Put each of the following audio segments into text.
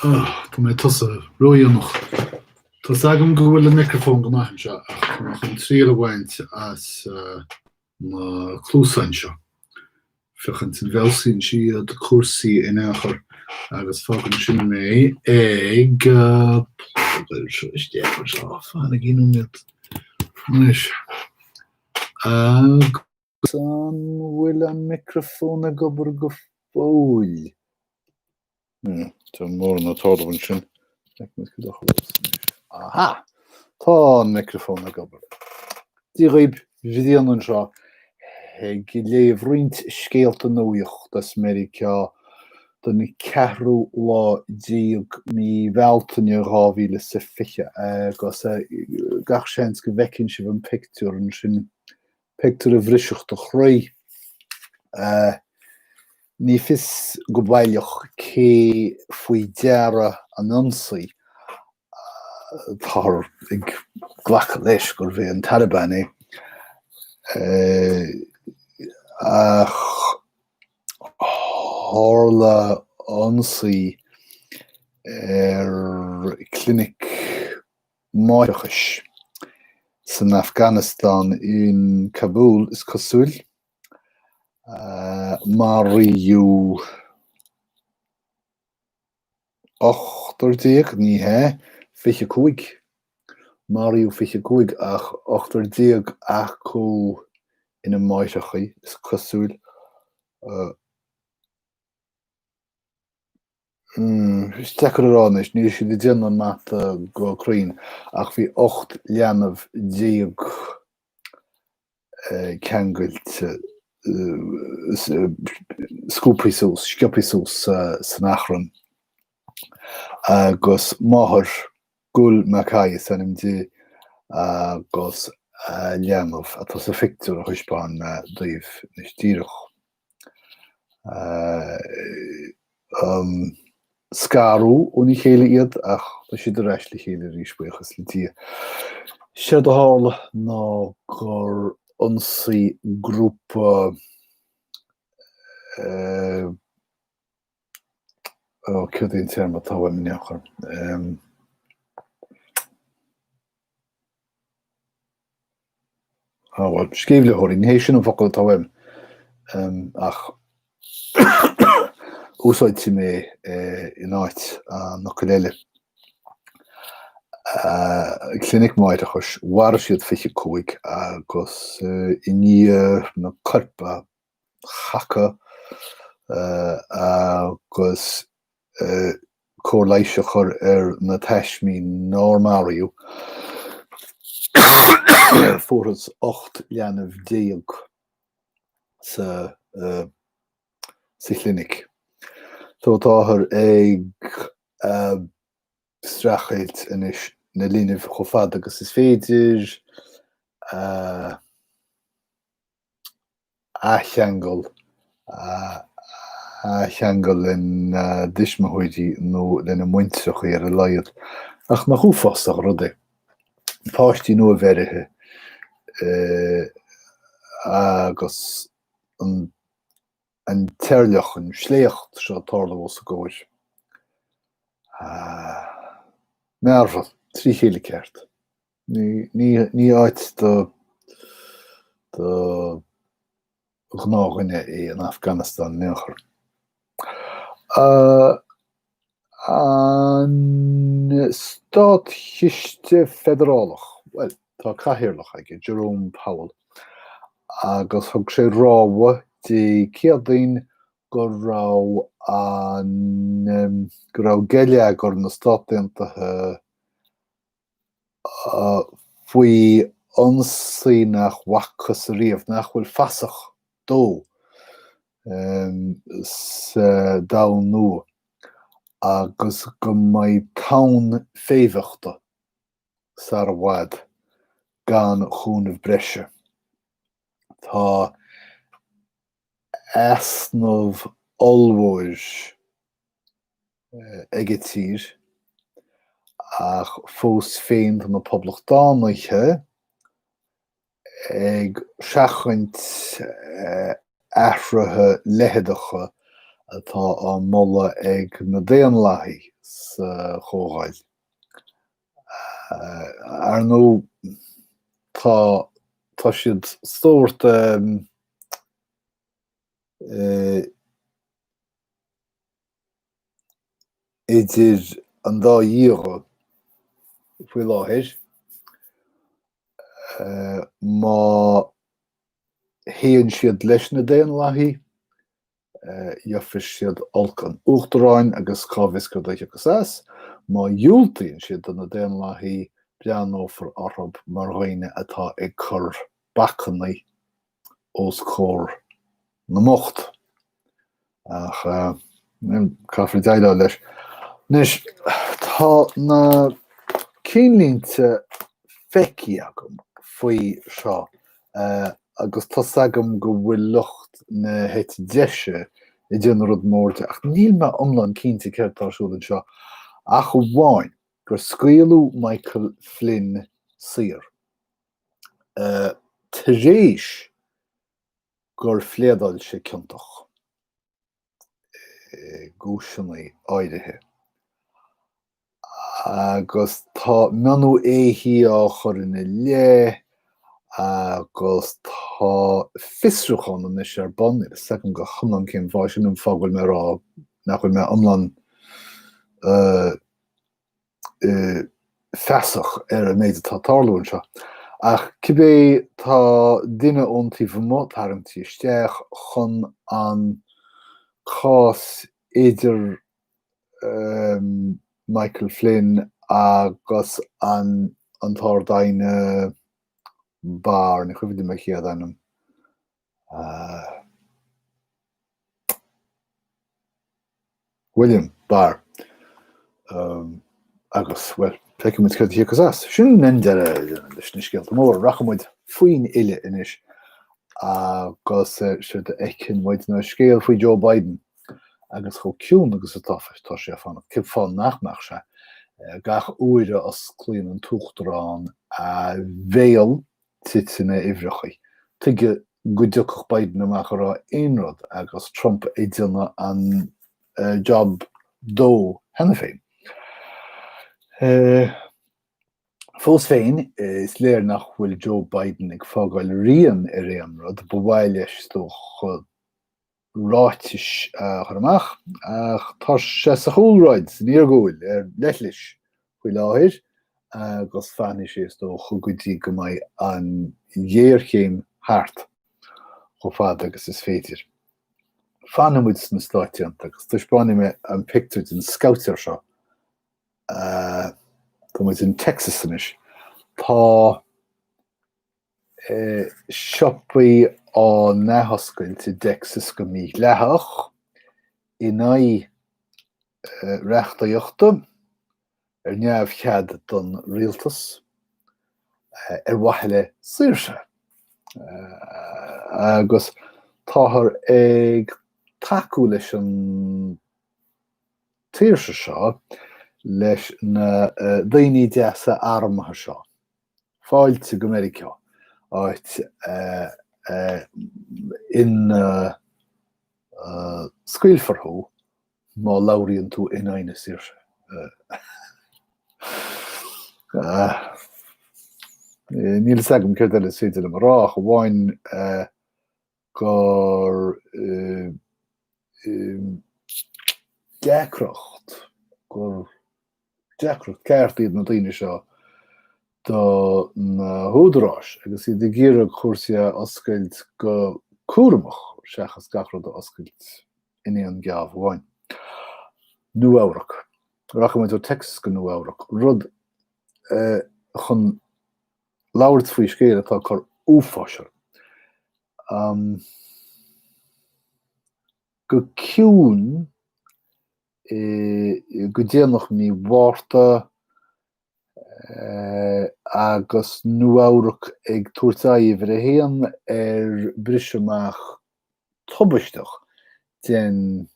Tá mé tosaithe ródhéanach. Tá a fhios agam go bhfuil an microfón go maith anseo ach chun triail a bhaint as na cluasáin seo. Féachaint an bhfeabhsaíonn siad cúrsaí in aon chor agus fágann sin mé ag fáinne gcionn nóiméid. Anois. An bhfuil an micreafón ag obair go fóill? Níl mórán ag tarlú ansin. Aha! Tá an micreafón ag obair. Dia dhaoibh, Brian anseo, ag léamh roinnt scéalta nuaíochta as Meiriceá don 14ú lá mí Bealtaine 2020, agus gach seans go bhfeiceann sibh an pictiúr ansin Pictiúr a bhrisfeadh do chroí. Ní fios go baileach cé faoi deara an t-ionsaí. Táthar ag glacadh leis gurbh é an Taliban é. Ach tharla ionsaí ar chlinic máithreachais. San Afganastáin, in Kabul, is cosúil, maraíodh ochtar déag, ní hea, fiche cúig, maraíodh fiche cúig, ach ochtar déag acu ina máithreacha, is cosúil. Is deacair a rá anois, níl siad ag déanamh an mata go cruinn, ach bhí 18 leanbh ceangailte, scuabtha suas, sciobtha suas san achrann. Agus máthair, Gul Makai is ainm di, agus leanbh, atá sa phictiúr a thaispeáin mé daoibh anois díreach. scaradh óna chéile iad ach tá siad ar ais le chéile arís, buíochas le Dia. Séard a tharla ná gur ionsaigh grúpa Ó, céard é an téarma atá uaim in aon chor? Ó, bhuel, sceimhlitheoirí, ní hé sin an focal atá uaim, ach úsáidfidh mé in áit an fhocail eile. Clinic Máithreachais, mharaigh siad 25 agus i ndiaidh na coirp a chasadh agus cóir leighis a chur ar na taismigh nár maraíodh. Fuarthas 18 leanbh sa chlinic. Táthar ag streachailt anois na linbh chomh fad agus is féidir. athcheangal, a athcheangal lena dtuismitheoirí nó lena muintreacha ar a laghad. Ach nach uafásach an rud é, páistí nuabheirthe agus an t-eirleach, an sléacht seo ag tarlú os a gcomhair. Mearbhall trí chéile ceart. Ní áit do ghnáthdhuine é an Afganastáin, in aon chor. An státchiste feidearálach, bhuel, tá cathaoirleach aige, Jerome Powell, agus thug sé rabhadh Dé Céadaoin go raibh geilleagar na Stát Aontaithe faoi ionsaí nach bhfacthas ariamh, nach bhfuil fasach dó, sa domhan nua agus go mbeidh tonn féimheachta sar i bhfad gan cúnamh breise. Tá easnamh ollmhór. ag an tír, ach fós féin tá na Poblachtánaithe ag seachaint athruithe leitheadacha atá á moladh ag na Daonlathaigh sa Chomhdháil. Ar ndóigh, tá siad sórt idir an dá dhíog faoi láthair, má théann siad leis na Daonlathaí, gheobhaidh siad olc an Uachtaráin agus cá bhfios cad a thiocfas as, má dhiúltaíonn siad do na Daonlathaí, breathnófar orthu mar dhaoine atá ag cur bacanna os comhair na mbocht. Ach caithfear déileáil leis. Anois, tá na cinnlínte feicthe agam faoi seo agus tá a fhios agam go bhfuil lucht na heite deise ag déanamh rud mór de, ach níl mé iomlán cinnte céard atá ar siúl anseo ach amháin gur scaoileadh Michael Flynn saor. tar éis gur phléadáil sé ciontach i gcúiseannaí áirithe agus tá mionnú éithigh á chur ina leith agus tá fiosrúchán anois ar bun ag seiceáil go hiomlán cén fáth. Sin an fáth go bhfuil mé rá nach bhfuil mé iomlán feasach ar an méid atá ag tarlú anseo. Ach cibé tá duine ón taobh amuigh tarraingthe isteach chun an cás idir Michael Flynn agus an an tArd-Aighne Barr, ní cuimhin liom a chéad ainm. William Barr. Agus, bhuel, feicimid cad a thiocfas as. Sin deireadh leis na scéalta móra. Rachaimid faoin bhfilleadh anois agus séard a fheiceann muid ná scéal faoi Joe Biden agus chomh ciúin agus atá sé ag fanacht. Cén fáth nach mbeadh sé, gach uair a osclaíonn an tUachtarán a bhéal titeann na uimhreacha. Tuige go dtiocfadh Biden amach ag rá aon rud agus Trump ag déanamh an job dó cheana féin. Fós féin, is léir nach bhfuil Joe Biden ag fágáil rian ar aon rud. Ba mhaith leis, is dócha, ráitis a chur amach, ach tá sé sa chúlráid, san iargúil, ar leithlis faoi láthair agus fanfaidh sé, is dócha, go dtí go mbeidh an ghéarchéim thart, chomh fada agus is féidir. Fanfaidh muid sna Stáit Aontaithe agus taispeánfaidh mé an pictiúr den scabhaitéir seo. Tá muid in Texas anois. Tá. siopaí á n-athoscailt i dTexas go mídhleathach in aghaidh reachtaíochta, ar neamhchead don rialtas, ar mhaithe le saoirse, agus táthar ag tacú leis an tsaoirse seo leis na daoine deasa armtha seo. Fáilte go Meiriceá, áit ina scaoilfear thú má labhraíonn tú in aghaidh na saoirse. Níl a fhios agam céard eile is féidir liom a rá ach amháin gur deacracht, gur deacracht ceart iad na daoine seo do na húdaráis agus iad ag iarraidh cúrsaí a oscailt go cúramach seachas gach rud a oscailt in aon gheábh amháin. Nua-Eabhrac. Rachaidh muid ó Texas go Nua-Eabhrac, rud chun Labhairt faoi scéal atá ag cur uafáis orm. Go ciúin, go déanach mí Mhárta, agus Nua-Eabhrac ag tabhairt aghaidh ar a haon ar bhris amach tubaisteach den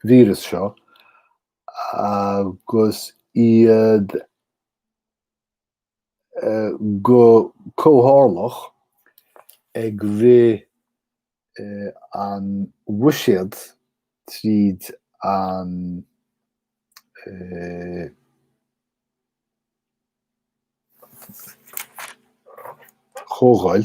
víreas seo, agus iad go comhthráthach ag rith an bhuiséad tríd an Chomhdháil.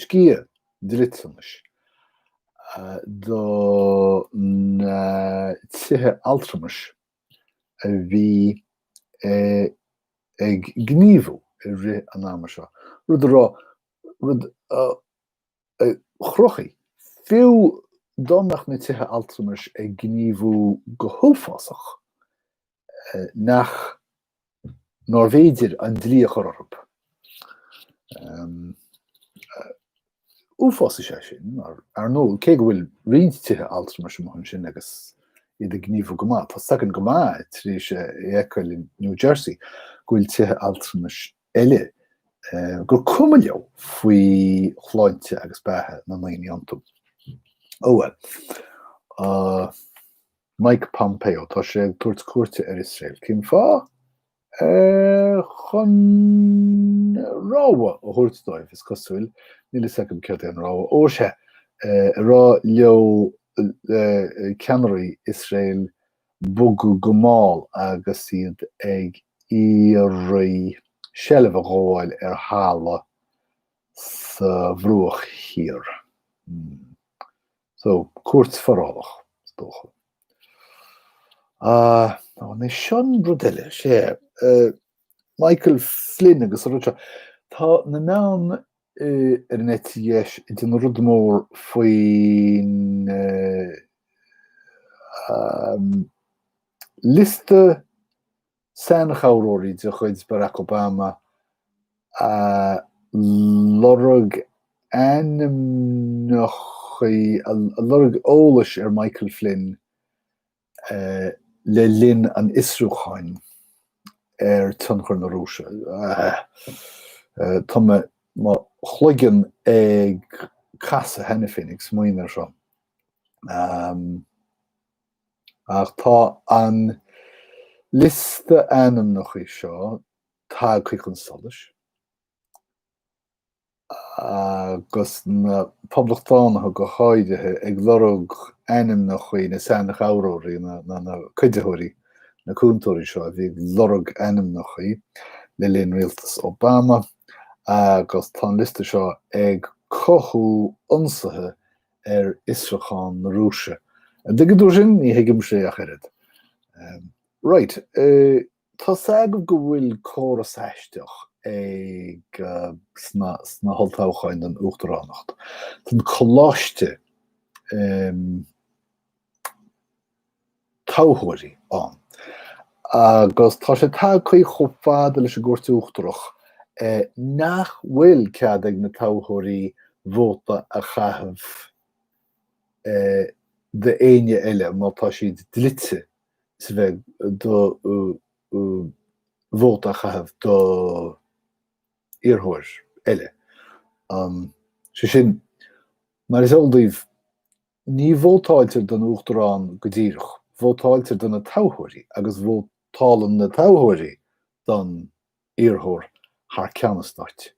Sciath dliteanais do na tithe altramais a bhí ag gníomhú i rith an ama seo, rud a raibh, rud a chruthaigh, fiú dá mbeadh na tithe altramais ag gníomhú go huafásach, nach. nár bhféidir an dlí a chur orthu. Uafás é sé sin, ar ndóigh, cé go bhfuil roinnt tithe altramais amuigh ansin agus iad ag gníomhú go maith. Tá a fhios againn go maith tar éis a fheiceáil i New Jersey go bhfuil tithe altramais eile gur cuma leo faoi shláinte agus beatha na ndaoine iontu. Ó bhuel. Mike Pompeo, tá sé ag tabhairt cuairte ar Iosrael. Cén fáth? Eh, chun rabhadh a thabhairt dóibh, is cosúil, níl a fhios agam céard é an rabhadh. Ó, tá sé ag rá leo eh, ceannairí Iosrael bogadh go mall agus iad ag iarraidh seilbh a ghabháil ar thalamh sa bhruach thiar. Hmm. So, cuairt forálach, is dócha. Anois seo an rud eile, sé, Michael Flynn agus an rud seo. Tá na meáin ar an eite dheis ag déanamh rud mór faoin liosta Seanchabhróirí de chuid Barack Obama a lorg ainmneacha a lorg eolas ar Michael Flynn le linn an fhiosrúcháin ar tionchar na Rúise. Tá mo chloigeann ag casadh cheana féin ag smaoineamh air seo. Ach tá an liosta ainmneacha seo tagtha chun solais agus na poblachtánaithe go háirithe ag lorg ainmneacha na seanchabhróirí, na cuiditheoirí, na cúntóirí seo a bhí ag lorg ainmneacha le linn rialtas Obama agus tá an liosta seo ag cothú ionsaithe ar fhiosrúchán na Rúise. An dtuigeann tú sin? Ní thuigimse é ach oiread. Right. Tá's agaibh go bhfuil córas aisteach ag sna holltoghcháin don uachtaránacht. Tá an Coláiste toghthóirí ann. Agus tá sé tagtha chomh fada leis an gCúirt Uachtarach nach bhfuil cead ag na toghthóirí vóta a chaitheamh d'éinne eile má tá siad dlite sa bheith do vóta a chaitheamh do iarrthóir eile. Sé sin, mar is eol daoibh, Ní vótáiltear don uachtarán go díreach, vótáiltear do na toghthóirí agus vótálann na toghthóirí don iarrthóir thar ceann an stáit.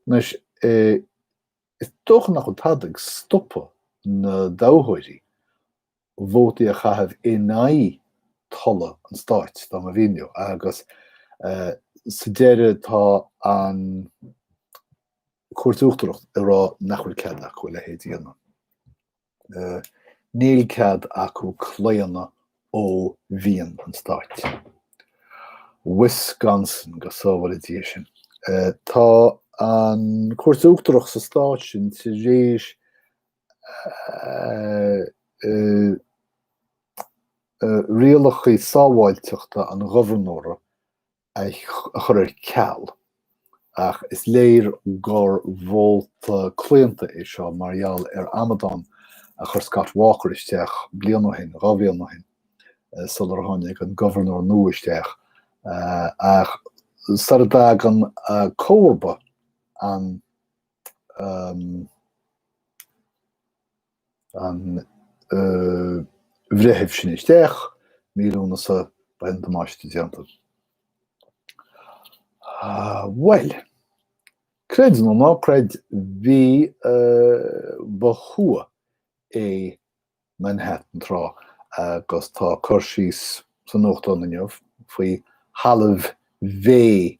Anois, is dócha nach bhfuil tada ag stopadh na dtoghthóirí vótaí a chaitheamh in aghaidh tola an stáit, dá mba mhian leo, agus sa deireadh tá an Chúirt Uachtarach ag rá nach bhfuil cead acu a leithéid a dhéanamh. Níl cead acu claonadh ó mhian an stáit. Wisconsin go sábhála Dia sinn. Tá an Chúirt Uachtarach sa stáit sin tar éis rialacha sábháilteachta an ghobharnóra a chur ar ceal, ach is léir gur vóta claonta é seo mar gheall ar amadán a chuir Scott Walker isteach bliain ó shin, dhá bhliain ó shin, sular tháinig an gobharnóir nua isteach. Ach sara dtagann comharba an. an Bhreithimh sin isteach mí Lúnasa beidh an damáiste déanta. Bhuel, creid nó ná creid, bhí ba thuath é Manhattan tráth agus tá cur síos sa nuachtán inniu faoi thalamh mhéith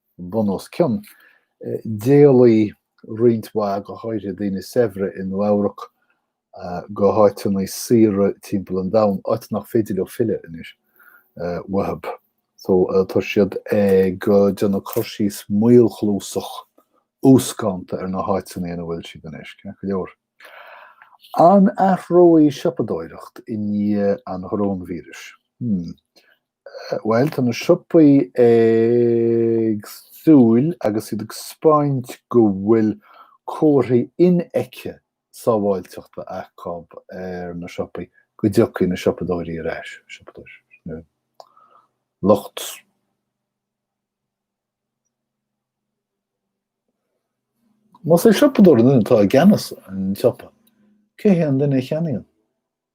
bunoscionn. D'éalaigh roinnt mhaith, go háirithe daoine saibhre i Nua-Eabhrac, go háiteanna saoire timpeall an domhain, áit nach féidir leo filleadh anois, uathu. So, tá siad ag déanamh cur síos maolchluasach, uascánta ar na háiteanna ina bhfuil siad anois, ceart go leor. An athróidh siopadóireacht i ndiaidh an choróinvíris? Hmm. Bhuel tá na siopaí ag súil agus iad ag spáint go bhfuil comharthaí infheicthe sábháilteachta acu ar na siopaí go dtiocfaidh na siopadóirí ar ais, siopadóir, lucht Más é siopadóir an duine atá i gceannas an tsiopa, cé hé an duine a cheannaíonn?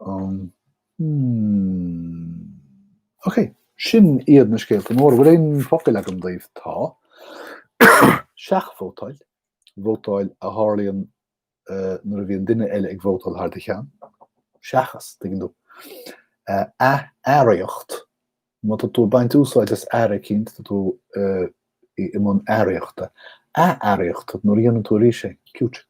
Um, hmm. Ok, sin iad na scéalta móra. Bhfuil aon focail agam daobh? Tá. Seachvótáil. Vótáil a tharlaíonn uh, nuair a bhíonn duine eile ag vótáil thar do cheann. Seachas, tuigeann tú. Uh, athearraíocht. Má tá tú ag baint úsáid as earra eicínt, tá tú i mbun earraíochta. Athearraíochta, nuair a dhéanann tú arís é. Cute.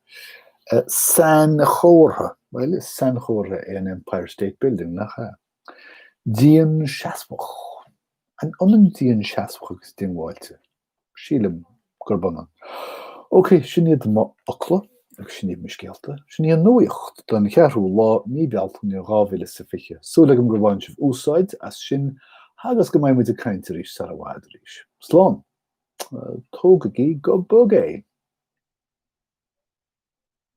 Sainchomhartha, bhuel, is sainchomhartha é an Empire State Building, nach ea? Dianseasmhach. An ionann dianseasmhach agus diongbháilte? Sílim gurb ionann. Ok, sin iad mo fhocla, agus sin iad mo scéalta. Sin í an nuaíocht don cheathrú lá mí Bealtaine 2020. Súil agam gur bhain sibh úsáid as sin agus go mbeidh muid ag caint arís sar i bhfad arís. Slán! Tógaigí go bog é!